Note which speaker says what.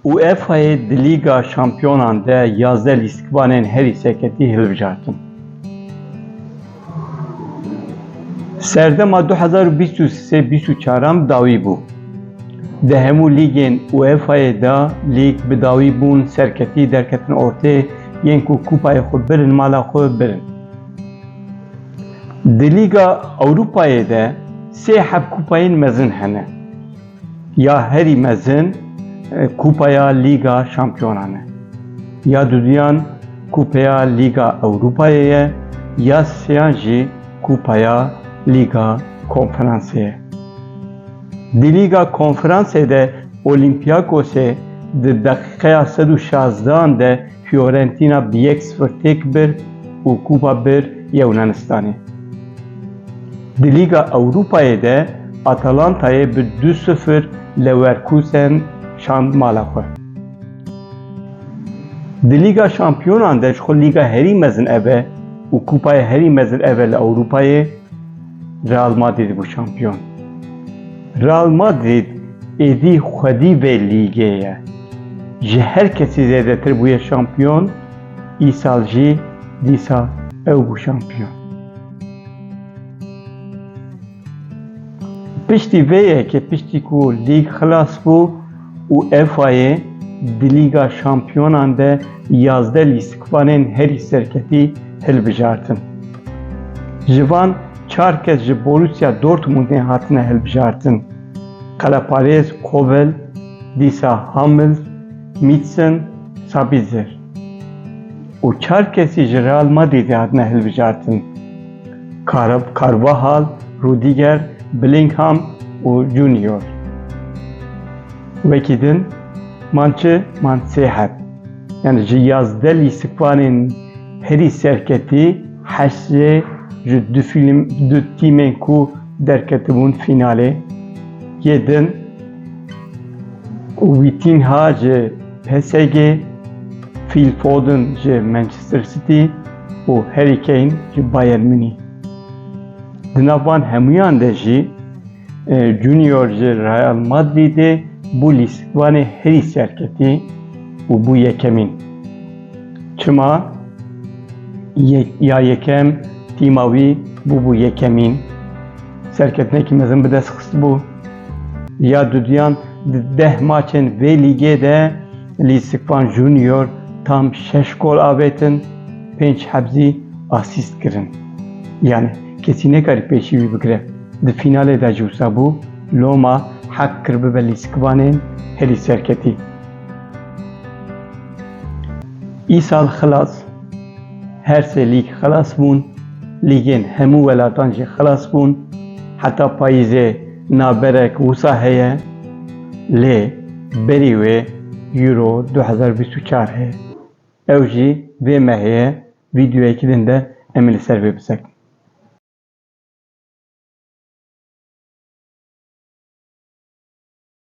Speaker 1: UEFA'yê di Lîga Şampiyonan de yazdeh lîstikvanên herî serketî hilbijartin. Serdema du hezar û bîst û sê bîst û çaran bi dawî bû. Di hemû lîgên UEFA'yê de lîg bi dawî bûn, serketî derketin ortê yên ku kûpayê xwe birin mala xwe birin. Di Lîga Ewropayê de sê hevkupayên mezin hene. Ya herî mezin Kupaya Lîga Şampiyonan e. Ya duduyan Kupeya Lîga Ewropayê ye, ya sêyan jî Kupaya Lîga Konferansê ye. Di Lîga Konferansê de Olîmpiyakosê di deqîqeya sed û şazdehan de Fiorentina bi yek sifir têk bir û kupa bir ya Yunanistanê. Di Lîga Ewropayê de Atalantayê bi du sifir Lewerkusen şand mala xwe. Di Lîga Şampiyonan de ji xwe lîga herî mezin ev e û kupayê herî mezin ev e li Ewropayê, Real Madrîd bû şampiyon. Real Madrid êdî xwedî vê lîgê ye. Ji her kesî zêdetir bûye şampiyon, îsal jî dîsa ew bû şampiyon. Piştî vê yekê piştî ku lîg xilas bû, UEFA'yê di Lîga Şampiyonan de yazdeh lîstikvanên herî serketî hilbijartin. Ji van çar kes ji Borussia Dortmundê hatine hilbijartin, qeleparêz Kobel, dîsa Hummels, Mîtsen, Sabitzer û çar kesî ji Real Madrîdê hatine hilbijartin, Carvajal, Rudiger, Bellingham û Junior. Wekî din man çi man sê heb. Yani ji yazdeh lîstikvanên herî serketî Hesê ji du fîlm du tîmên ku derketibûn fînalê yê din û Wîtînha ji PSG, Fîl Foden ji Manchester City û Harry Kane ji Bayern Munîh. Di nav van hemûyan de jî Junior ji Real Madrîdê bû lîstvanê herî serketî û bû yekemîn. Çima? Ya yekem tîma wî bûbû yekemîn. Serketinekî mezin bi dest xistibû. Ya duduyan di deh maçên vê lîgê de lîstvan Junior tam şeş gol avêtin, pênc hebzî asîst kirin. Yanî Kesî nekarî pêşî wî bigire. Di fînalê de ji wisa bû Loma heq kir bibe lîstikvanên herî serketî. Îsal xilas her sê lîg xilas bûn, lîgên hemû welatan jî xilas bûn. Heta payîzê navberek wisa heye lê berî wê Euro du hezar û bîst û çar heye. Ew jî vê mehê vîdyoyekî din de em ê li ser vê bisekin.